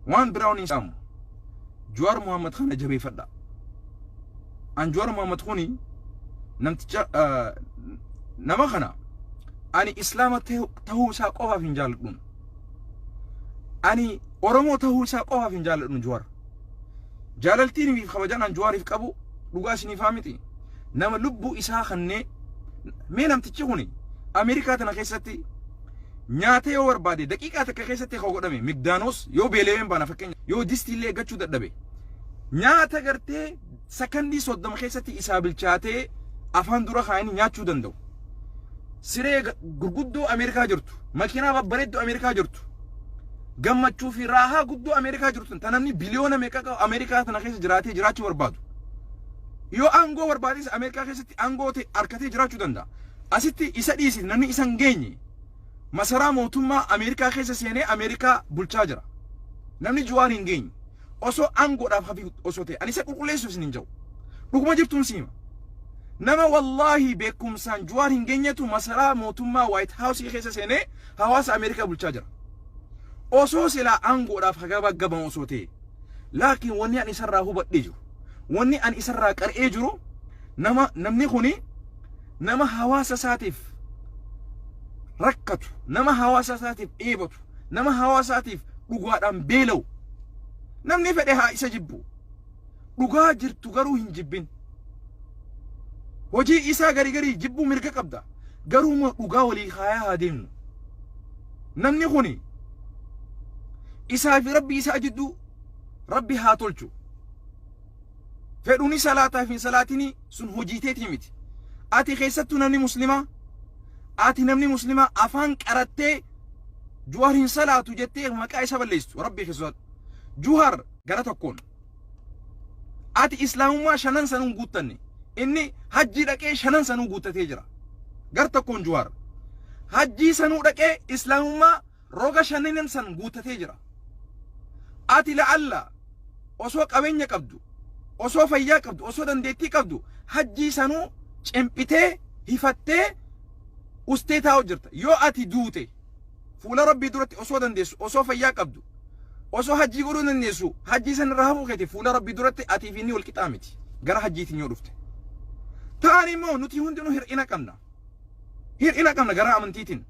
Waan biraa waniin saamu. Juwaar Muhammad kana jabeeffadha. An Juwaar Muhammad kuni namticha nama kana ani islaama tahuu isaa qofaaf hin jaaladhuun. Ani Oromoo tahuu isaa qofaaf hin jaaladhuun Juwaar. Jaalaltiin fi kabajaan an Juwaariif qabu dhugaa isiniif haa miti. Nama lubbuu isaa kannee mee namtichi kuni Ameerikaa tana keessatti Nyaata yoo barbaade daqiiqaa takka keessatti akka godhame migdaanoos yoo beela'een baana fakkeenya yoo distii illee eeggachuu dadhabe nyaata gartee sakandii soddoma keessatti isaa bilchaatee afaan dura kaa'anii nyaachuu danda'u. Siree ga- gurguddoo Ameerikaa jirtu, makiinaa babbareedduu Ameerikaa jirtu, gammachuu fi raahaa guddoo Ameerikaa jirtu, ta namni biliyoona meeqa qabu Ameerikaa tana keessa jiraatee jiraachuu barbaadu. Yoo aangoo barbaades Ameerikaa keessatti aangoo ta'e harkatee jiraachuu danda'a. Asitti isa dhiisi namni isa hin geenye. masaraa mootummaa Ameerikaa keessa seenee Ameerikaa bulchaa jira. Namni Juwaar hin geenye. Osoo aangoodhaaf hafi osoo ta'e. Ani isa qulqulleessuuf isin hin jedhu. Dhuguma jirtuun si hima. Nama wallaahi beekumsaan Juwaar hin geenyetu masaraa mootummaa Waayit Haawusii keessa seenee hawaasa Ameerikaa bulchaa jira. Osoo silaa aangoodhaaf hagabaggabamu osoo ta'e. Laakiin wanni ani isarraa hubadhee jiru. Wanni ani isarraa qar'ee jiru nama namni kuni nama hawaasa isaatiif rakkatu, nama hawaasa isaatiif dheebotu, nama hawaasa isaatiif dhugaadhaan beela'u. Namni fedhe haa isa jibbu. Dhugaa jirtu garuu hin jibbin. Hojii isaa gari garii jibbuu mirga qabda. Garuu immoo dhugaa walii kaayaa haa deemnu. Namni kuni isaa fi rabbi isaa jidduu rabbi haa tolchu. fedhuni salaataaf hin salaatini sun hojii teetii miti ati keessattuu namni muslimaa ati namni muslimaa afaan qarattee juhar hin salaatu jettee maqaa isa balleessitu rabbii kee sodaadhu juhar gara tokkoon ati islaamummaa shanan sanuun guuttanne inni hajjii dhaqee shanan sanuu guuttatee jira gar tokkoon juhar hajjii sanuu dhaqee islaamummaa Roga shanenen san guuttatee jira. Ati la'alla osoo qabeenya qabdu, osoo fayyaa qabdu, osoo dandeettii qabdu hajjii sanuu cimphitee, hifattee, ustee taa'u jirta. Yoo ati duute fuula Rabbii duratti osoo dandeessu, osoo fayyaa qabdu, osoo hajjii godhuu dandeessu hajjii san irraa hafuu keeti fuula Rabbii duratti atii fi inni wal qixaa miti. Gara hajjiitiin yoo dhufte. Taan immoo nuti hundinuu hir'ina qabna. Hir'ina qabna gara amantiitiin.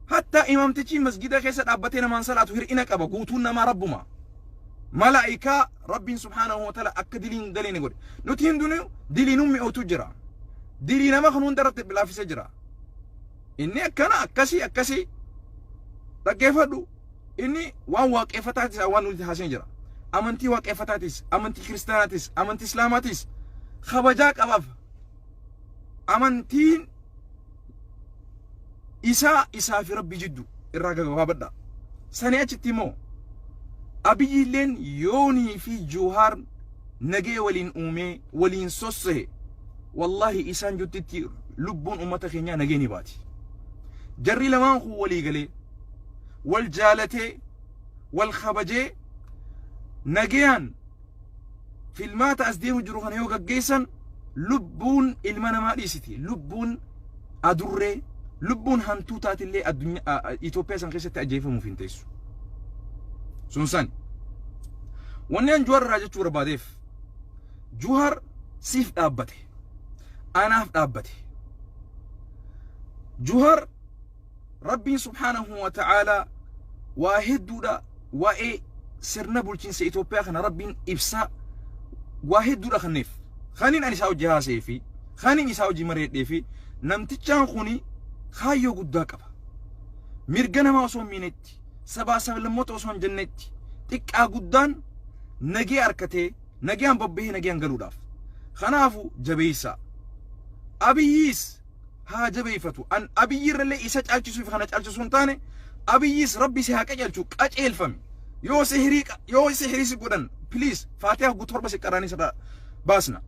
Hattaa imaamtichi masgida keessa dhaabbatee namaan salaatu hir'ina qaba guutuun namaa rabbuma. Malaa'ikaa rabbiin subhaanahu wa ta'ala akka dilii hin daleene godhe. Nuti hundinuu dilii nu mi'ootu jira. Dilii nama kan hunda irratti bilaafisee jira. Inni akkana akkasii akkasii dhaggeeffadhu inni waan waaqeffataatis waan nuti haaseen jira. Amantii waaqeffataatis, amantii kiristaanaatis, amantii islaamaatis kabajaa qabaaf. amantiin isaa isaa fi rabbii jiddu irraa gagabaabadha sanii achitti immoo abiyyiilleen yoonii fi juuhaar nagee waliin uumee waliin sossehe wallahi isaan juttitti lubbuun ummata keenyaa nagee ni baati jarri lamaan kun walii galee wal jaalatee wal kabajee nagayaan filmaata as deemu jiru kana yoo gaggeessan lubbuun ilma namaa dhiisiti. Lubbuun adurree, lubbuun hantuutaatillee addunyaa Itoophiyaa san keessatti ajjeefamuuf hin teessu. Sun san. Wanni an Juhaar irraa jechuu barbaadeef Juhaar siif dhaabbate. Anaaf dhaabbate. Juhaar Rabbiin subhaanahu wa ta'aalaa waa hedduudha waa'ee sirna bulchiinsa Itoophiyaa kana Rabbiin ibsaa waa hedduudha kanneef. Kaniin ani isaa hojii haasa'ee fi kaniin isaa hojii mari'adhee fi namtichaan kuni kaayyoo guddaa qaba. Mirga namaa osoo hin miinetti, sabaa sablammoota osoo hin jennetti, xiqqaa guddaan nagee harkatee, nagaan bobbahee nagaan galuudhaaf. Kanaafu jabeessaa. Abiyyiis haa jabeeffatu. An Abiyyi irrallee isa caalchisuuf kana caalchisu hin taane Abiyyis rabbi si haa qajeelchu qajeelfami. Yoo sihirii qa- yoo sihirii si godhan please faatiyaa hoggu torba si qaraanii sirraa baasna.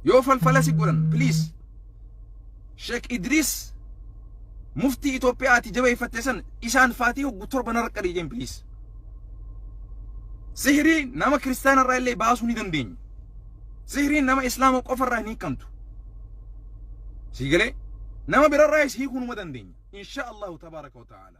Yoo falfala si godhan please Sheek Idriis muftii Itoophiyaa ati jabeeffatte san isaan faatii hoggu torba narra qarii jeen please. Sihirii nama kiristaana irraa illee baasuu ni dandeenya. Sihriin nama Islaama qofarraa hin hiikamtu. Sii galee? Nama birarraayis hiikuu numa dandeenya. Inshaa Allahu tabaaraka wa ta'aala.